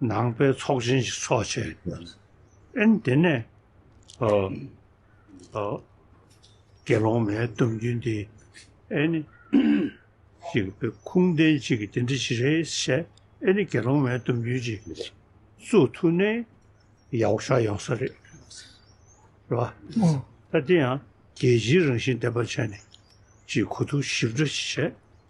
ནང་པའི་ཚོགས་ཆེན་ཞིག་ཚོགས་བྱས་ཡོད་པ་རེད། ཨན་དེ་ནས་དགེ་སློང་མའི་གཏམ་རྒྱུད་འདི་ཨེ་ནི། ཞིག་པའི་ཁུངས་ལྡན་གཅིག་གིས་དེ་འདྲི་ཞིག་རེད་བཤད་ཨེ་ནི་དགེ་སློང་མའི་གཏམ་རྒྱུད་ཅིག་གཙུག་ཐུབ་ནས་ཡག་ཤག་ཡོང་ས་རེད། རེད་བ། ད་དེ་ཡང་རྒྱལ་སྤྱིའི་རང་བཞིན་ལྡན་པ་བྱས་ནས་ཅིག་གོ་ཐུག་ཞིབ་ཕྲ་ཞིག་བྱས།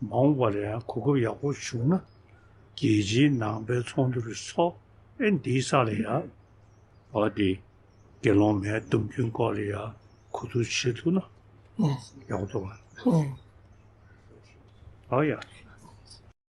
མ་འོངས་པར་ཡང་གོ་སྐབས་ཡག་པོ་བྱུང་ན་རྒྱལ་སྤྱིའི་ནང་པའི་ཚོགས་འདུ་རེ་ཚོགས་ཨེ་འདི་ས་ལ་ཡ། བ་འདི་དགེ་སློང་མའི་གཏུམ་རྒྱུན་སྐོར་ལ་ཡ་གོ་བསྡུར་བྱེད་ཐུབ་ན་ཡག་པོ་འདུག། ཨ་ཡ།